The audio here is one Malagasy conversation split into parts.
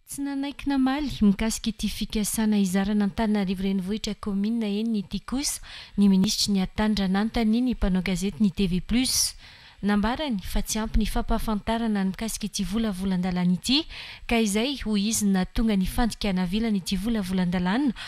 Tsy nanaiky namaly mikasika ity fikasana hizarana Antananarivo Renivohitra Kaominina enina ity kosa ny minisitry ny Hattany raha nanontania ny mpanao gazety ny TV Plus. Nambarany fa tsy ampy ny fampahafantarana ny mikasika ity volavolan-dalàna ity ka izay hoy izy no nahatonga ny fandikana avilana ity volavolan-dalàna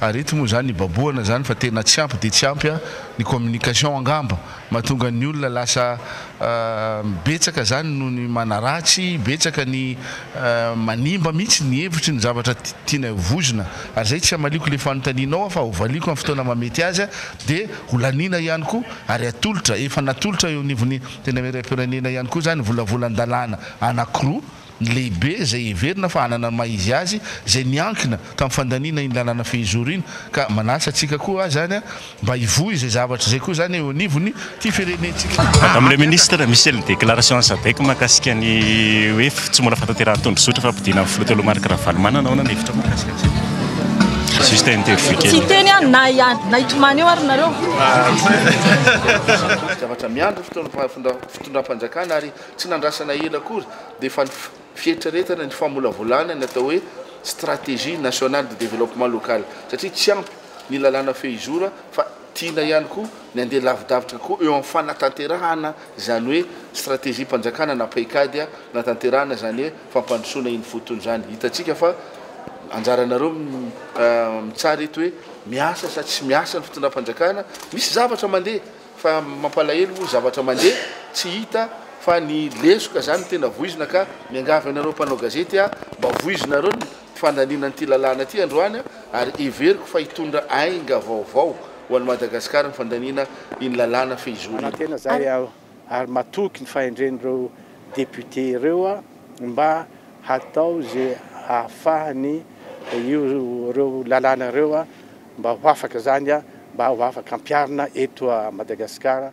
Ary eto moa zany ibabohana zany fa tena tsy ampy dia tsy ampy a! Ny communication angamba mahatonga ny olona lasa betsaka zany no ny manaratsy, betsaka ny manimba mihitsy ny hevitry ny zavatra tianay ho voizina. Ary zay tsy hamaliako le fanontanianao aho fa ho valiako am fotoana maha mety azy dia ho laniana ihany koa ary atolotra, efa natolotra eo anivon'ny Antenimierampirenena ihany koa zany volavolan-dalàna anakiroa, ny lehibe izay heverina fa hanana ny maha izy azy, izay niankina tamin'ny fandaniana iny lalàna fehizoro iny, ka manasa antsika koa aza any mba hivoy izay zavatra izay koa izany eo anivon' ity firenentsika. Nataon'ilay Minisitra Michel ny déclaration an'i Sadec mahakasika ny hoe tsy mbola fahatanterahan'ny tondrozotra fampodiana ny Filoha teo aloha Marc Ravalomanana, ahoana ny hevitrao mahakasika an'izay? Juste interview kely. Tsy hiteny aho na hiady na hitomany eo ary nareo. Zavatra miandry ny fitondram-panjakana ary Tsy nandrasana ela akory dia efa fieritreretana ny famolavolana ny atao hoe Stratégie nationale de développement local satria tsy ampy ny lalàna fehizoro fa tiana ihany koa ny handeha lavidavitra kokoa eo amin'ny fanatanterahana izany hoe Stratégie-panjakana na paikady natanterahana izany hoe fampandrosoana iny fotony izany. Hitantsika fa anjaranareo mitsara eto hoe miasa sa tsy miasa ny fitondram-panjakana, misy zavatra mandeha. Fa mampalahelo moa zavatra mandeha tsy hita fa ny lesoka zany no tena voizina ka miangavy anareo mpanao gazety a mba voizinareo ny fandaniana an'ity lalàna ity androany ary heveriko fa hitondra ainga vaovao ho an'i Madagasikara ny fandaniana iny lalàna fehizoro iny. Manantena izahay aho ary matoky ny fahendren'ireo députés ireo mba hatao izay ahafahan'ny ireo lalàna ireo Mba ho afaka zany a! Mba ho afaka ampiarina eto a Madagascar.